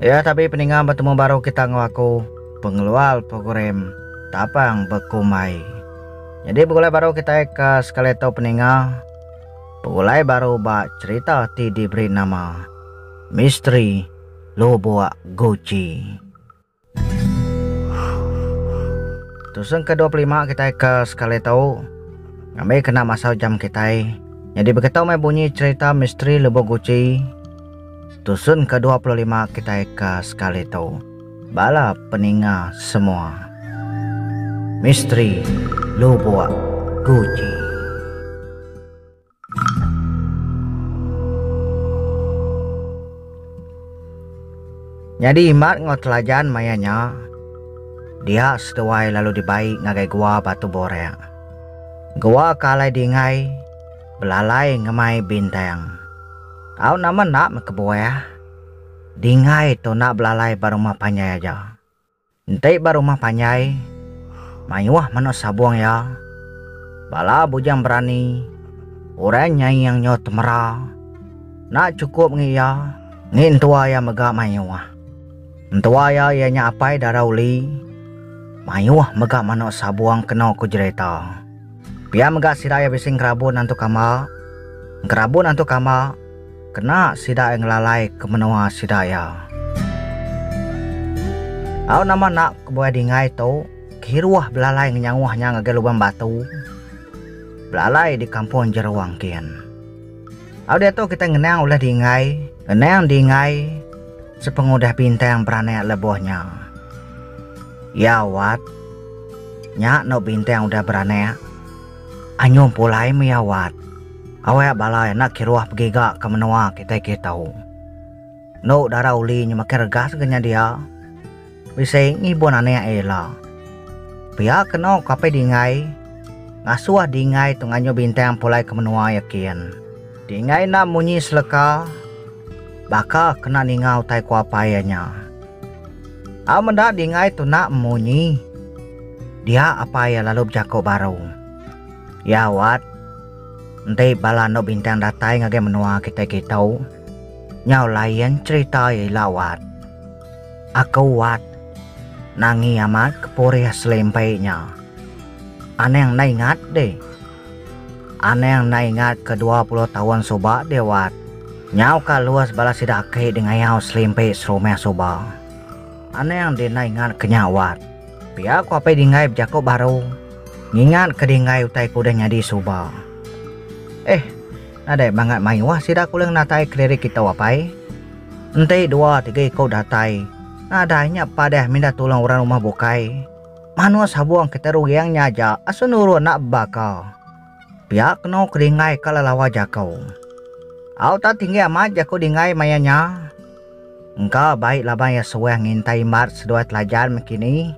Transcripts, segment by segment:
Iya tabi peninga betemu baru kita enggau aku pengeluar program tapang bekumbai. Jadi begulai baru kita ke sekali tu peninga begulai baru ba cerita ti diberi nama Misteri Lubuk Guci. Tusung ke dua puluh lima kitai ke sekali tu ngambi kena masa jam kitai. Nyadi begitu meh bunyi cherita misteri Lubong Guchi tusun ke dua puluh lima kitai ke sekali tu. Bala peninga semua. Misteri Lubong Guchi. Nyadi Imat enggau Telajan maya nya dia seduai lalu dibai ngagai Gua Batu Borek. Gua ke alai dingai belalai ngemai bintang. Tau nama enda meh kebuah. Dingai tu enda belalai ba rumah panjai aja. Enti ba rumah panjai, mayuh menoh sabong iya, bala bujang berani, orang nyai yang nyoh temera, enda chukup ngi iya, ngi entua iya mega mayuh. Entua iya iya nya apai dara uli, mayuh mega menoh sabong keno ku jerita. Pia mega sida iya bisi ngerabun antu kamba, ngerabun antu kamba, Kena sida ai ngelalaika menoa sida iya. Au nama enda kebuai dinggai tu, kiruh belalai ngenyaoh nya ngagai lubang batu, belalai di kampong jero angkin. Au diatu kitai ngenang ulih dinggai, ngenang dinggai sepengudah bintang beranak leboh nya. Iya wat, nya eno bintang udah beranak, anyum pulai meh iya wat. Awek balai enda kiruh pegi ga ke menua kitai kitu. Endo dara uli nyu makin regas ga nya dia. Bisi ngibun anek iya ila. Pia ke eno ke apai Dinggai ngasuh Dinggai tu nganjung bintang pulai ke menua iya kin. Dinggai enda munyi seleka baka kena ninga utai ku apai iya nya. Au meda Dinggai tu enda munyi dia apai iya lalu bejako baru. Iya wat. Enti bala endo bintang datai ngagai menua kitai kitu, nyau lain cherita iya ila wat. Aku wat nangi amat ke purih selimpi nya. Anang enda ingat dih. Anang enda ingat ke dua puluh taun suba dia wat. Nyau ka lus bala sida aki dengayau selimpi serumah suba. Anang dinaingat ke nya wat. Pia ku Apai Dinggai bejaku baru ngingat ke Dinggai utai ke udah nyadi suba. Eh, nadai mangat mayuh sida ke ulih ngenatai kelirik kitu Apai. Enti dua tiga iku datai, nadai nya padah mindah tulung orang rumah bukai. Manus habung kita ruyang nya aja asu nurun enda bebaka. Pia keno ke dinggai ka lelawa jaku. Au ta tinggi amat jaku dinggai maya nya. Engka bai laban iya suah ngintai imbat seduai telajan miki ni.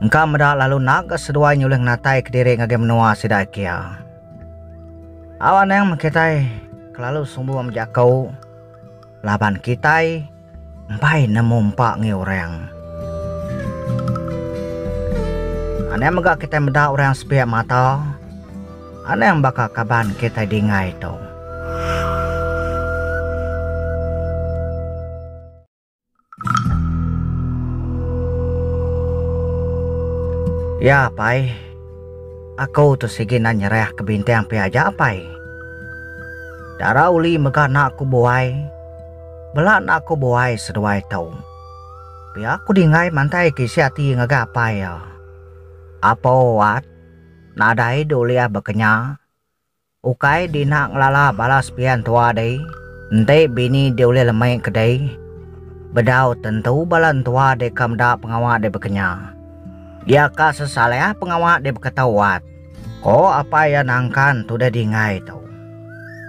Engka meda lalu nak ga seduai nyulih ngenatai kediri ngagai menua sida kia. Au anang meh kitai kelalu sumbu meh jaku laban kitai. Empai nemu empa ngi orang. Anang mega kitai meda orang sepiak mata. Anang baka kaban kitai dingai tu. Ya pai. Aku tu sigi enda nyerah ke bintang pia aja pai. Dara uli mega anak ku buai. Bela enda aku buai seduai tu. Pia ku Dingai mantai ke isi ati ngagai apai iya. Apo Wat, nadai di ulih bekenya. Ukai di enda ngelala bala sepian tua dei, enti bini di ulih lemai ke dei. Bedau tentu bala entua dei ka meda pengawa dei bekenya. Dia ka sesalih pengawa dei beketo Wat. O Apai iya nangkan tudah dingai tu.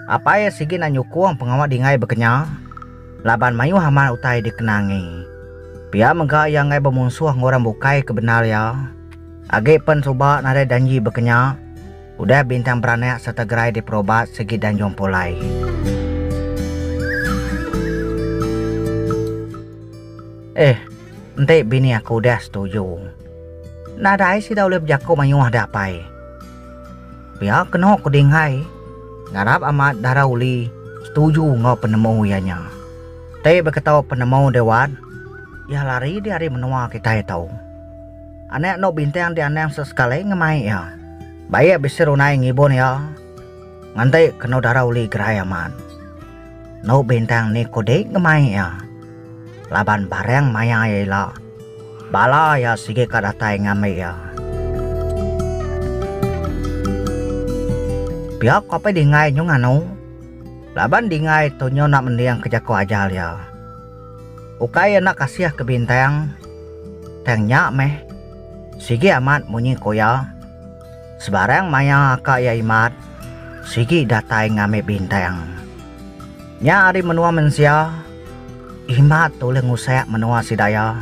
Apai iya sigi enda nyukung pengawa dingai bekenya, laban mayuh amat utai dikenangi. Pia mega iya enggai bemunsuh enggau orang bukai ke bendar iya, agi pen suba nadai janji bekenya udah bintang beranak sereta gerai diperobat sigi dan jumpa alai. Eh, enti bini aku udah setuju. Nadai sida ulih bejako mayuh da apai. Pia keno ko Ding Hai, ngarap amat dara Uli setuju enggau penemu iya nya. Ti baka tau penemu deh wat, iya lari deh ari menua kitai tu. Anak endo bintang di anang sesekali ngemai iya. Baik bisi runai ngibun iya nganti keno dara Uli gerai amat. Endo bintang ni ko deh ngemai iya laban barang maya iya ila. Bala iya sigi ka datai ngambi iya. Pia ko apai Dingai nyu nganu, laban Dingai tu nyu enda mending ke jako ajal iya. Ukai iya enda kasih ke Bintang, tang nya meh sigi amat munyi ko iya. Sebarang maya ka iya imat, sigi datai ngambi bintang. Nya ari menua mensia, imat tu ulih ngusak menua sida iya.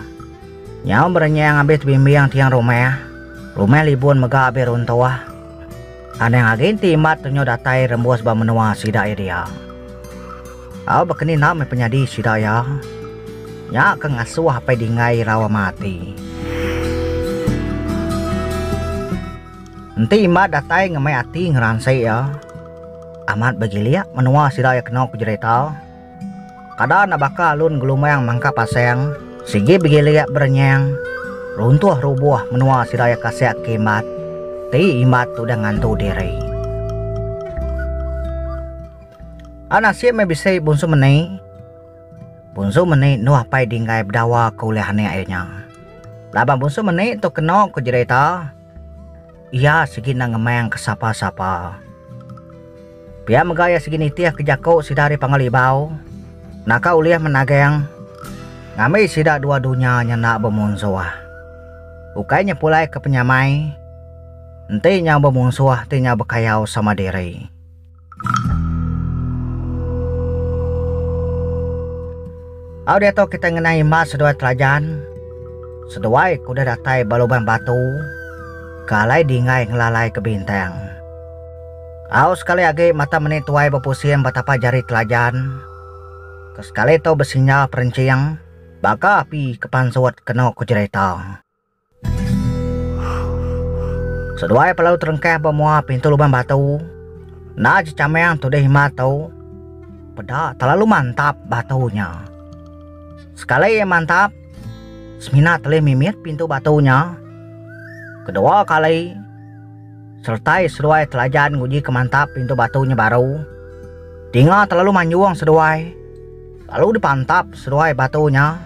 Nyau berenyang abis tebimbing tiang rumah, rumah libun mega abis runtuh. Anang agi enti imat tu nyau datai rembus ba menua sida iya dia. Au baka ni enda meh penyadi sida iya. Nya ke ngasuh apai Dinggai irau ama ati. Enti Imat datai ngemai ati ngeransik iya, amat begilik menua sida iya kena bejerita. Kada enda baka alun ngelumang mangkap asang, sigi begilik berenyang, runtuh rubuh menua sida iya kasih ke Imat ti Imat udah ngantu diri. Au nasib meh bisi Bunsu Meni. Bunsu Meni endu apai Dinggai bedawa ke ulih anek iya nya. Laban Bunsu Meni tu keno ku jerita, iya sigi enda ngemang ke sapa-sapa. Pia mega iya sigi nitih ke jaku sida ari Panggau Libau naka ulih menagang ngambi sida dua dunya nya enda bemunsuh. Ukai nya pulai ke penyamai, enti nyau bemunsuh ti nyau bekayau sama diri. Au diatu kita ngena imbas seduai telajan seduai ke udah datai ba lubang batu ke alai dingai ngelalai ke bintang. Au sekali agi mata meni tuai bepusing ba tapak jari telajan ke sekali tu besinyal perenching baka api ke pansut kenu ke jerita. Seduai pelalu terengkah ba mua pintu luban batu, enda jecamang tudih himar tu. Peda telalu mantap batu nya. Sekali iya mantap, semina telih mimit pintu batu nya. Kedua kali, seretai seduai telajan ngujika mantap pintu batu nya baru. Dinga telalu manjung seduai, lalu dipantap seduai batu nya.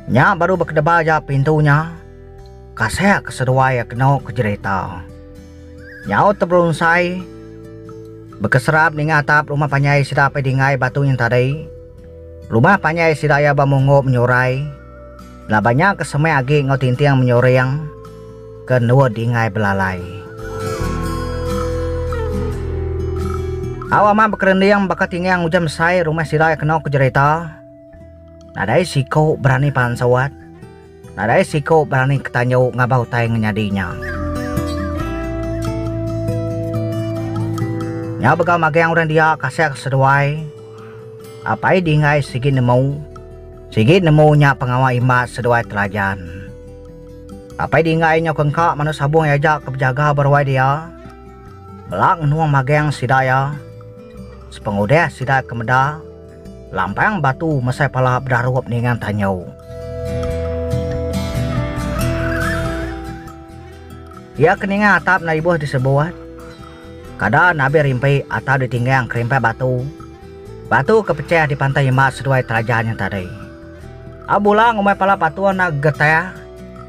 Nya baru bekedeba aja pintu nya, kasek ke seduai iya keno ke jerita. Nyau teberunsai, bekeserap ninga atap rumah panjai sida apai Dinggai batu nya tadi. Rumah panjai sida iya ba munggo menyurai, laban nya ke semek agi enggau tinting menyuring ke endor Dinggai belalai. Au amat bekerending baka tingang ujan besai rumah sida iya keno ke jerita. Nadai siku berani pansut. Nadai siku berani ketanju ngaba utai ngenyadi nya. Nya bega magang orang dia kasah ke seduai. Apai Dinggai sigi nemu. Sigi nemu nya pengawa Imas seduai Telajan. Apai Dinggai nyau ke engka manu Sabung iya aja ke bejaga ba ruai dia. Bela ngenung magang sida iya. Sepengudah sida ke meda, Lampang batu mesai pala bedarup ninga tanyu. Iya ke ninga atap enda ibuh disebut. Kada nabi rimpi atau ditinggang kerimpat batu. Batu ke pecah di pantai imba seduai telaja nya tadi. A bula ngumbai pala patung enda gegetah,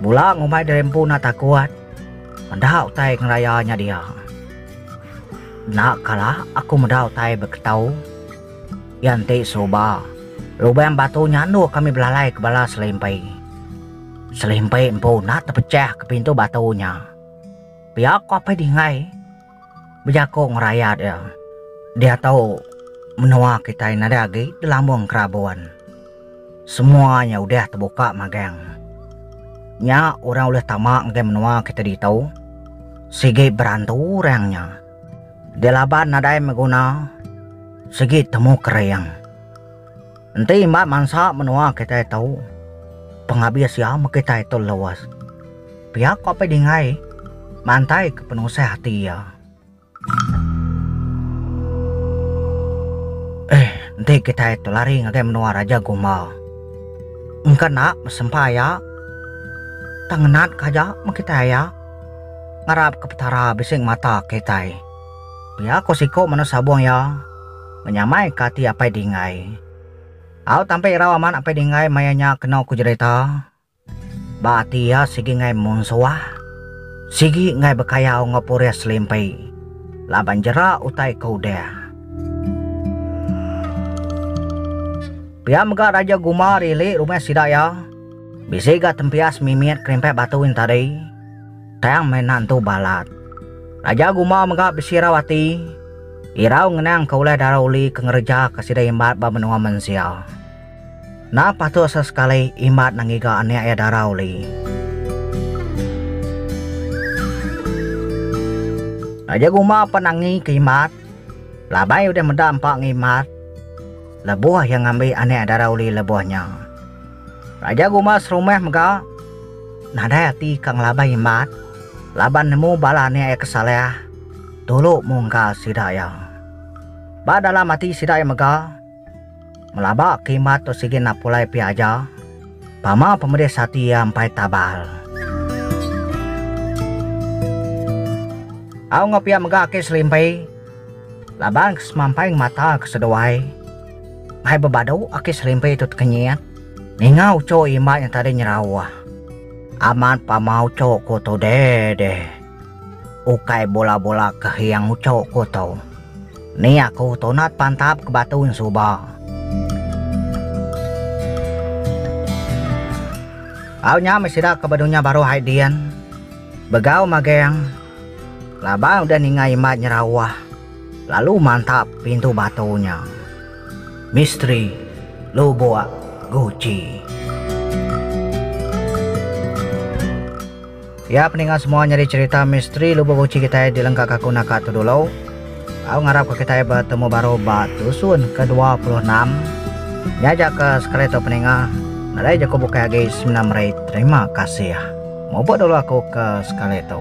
bula ngumbai diri empu enda takut. Enda utai ngeraya nya dia. Enda kala aku meda utai beketau. Iya enti suba, lubang batu nya endur kami belalai ke bala selimpi. Selimpi empu enda tepechah ke pintu batu nya. Pia ku Apai Dinggai bejaku ngerayat iya. Diatu menua kitai nadai agi delambung kerabun. Semua nya udah tebuka magang. Nya orang ulih tama ngagai menua kitai ditu sigi berantu orang nya. Dia laban nadai meh guna sigi temu kering. Enti imbat mansa menua kitai tu, pengabis iya meh kitai tu luas. Pia ko Apai Dingai mantai ke penusah ati iya. Eh, enti kitai tu lari ngagai menua Raja Gumba, engka enda besempa iya. Tang ngenat ke aja meh kitai iya. Ngarap ke Petara bisi ngemata kitai. Pia ko siko meno sabong iya, Menyamai ke ati Apai Dinggai. Au tampi irau amat Apai Dinggai maya nya keno ko jerita, ba ati iya sigi enggai munsuah, sigi enggai bekayau enggau purih selimpi laban jera utai ke udah. Pia mega Raja Guma rilih rumah sida iya. Bisi ga tempias mimit kerimpit batu in tadi. Tang meh enda entu balat. Raja Gumba mega besirau ati. Irau ngenang ke ulih dara Uli ke ngereja ke sida imbat ba menua mensia. Enda patut sesekali imbat enda ngiga anek iya dara Uli. Raja Gumba pan angi ke imbat. Laban iya udah meda empa enggau imbat, lebuh iya ngambi anek dara Uli lebuh nya. Raja Guma serumah mega nadai ati ka ngelaban Imat laban nemu bala anak iya ke salah tulu mungka sida iya. Ba dalam ati sida iya mega, ngelaba ka Imat tu sigi napulai pia aja pama pemedis ati iya empai tabal. Au enggau pia mega ake selimpi laban ke semampai ngemata ke seduai. Hai bebadu aki serimpi tu tekenyit. Ninga ucho imat nya tadi nyerauh. Amat pama ucho ku tu deh deh. Ukai bola bola ke hiang ucho ku tu. Ni aku tu nat pantap ke batu nya suba. Au nya meh sida ke bedunya baru hai din. Begau mageng. Laban udah ninga imat nyerauh. Lalu mantap pintu batu nya. Misteri lubuk guci. Ya peninga semua nyadi cerita misteri lubuk guci kitai di lengka kaku naka tu dulu. Au ngarap ka kitai betemu baru ba tusun ke dua puluh enam. Nya aja ka sekali tu peninga. Nadai jaku bukai agi semina meri terima kasih. Mupuk dulu aku ke sekali tu.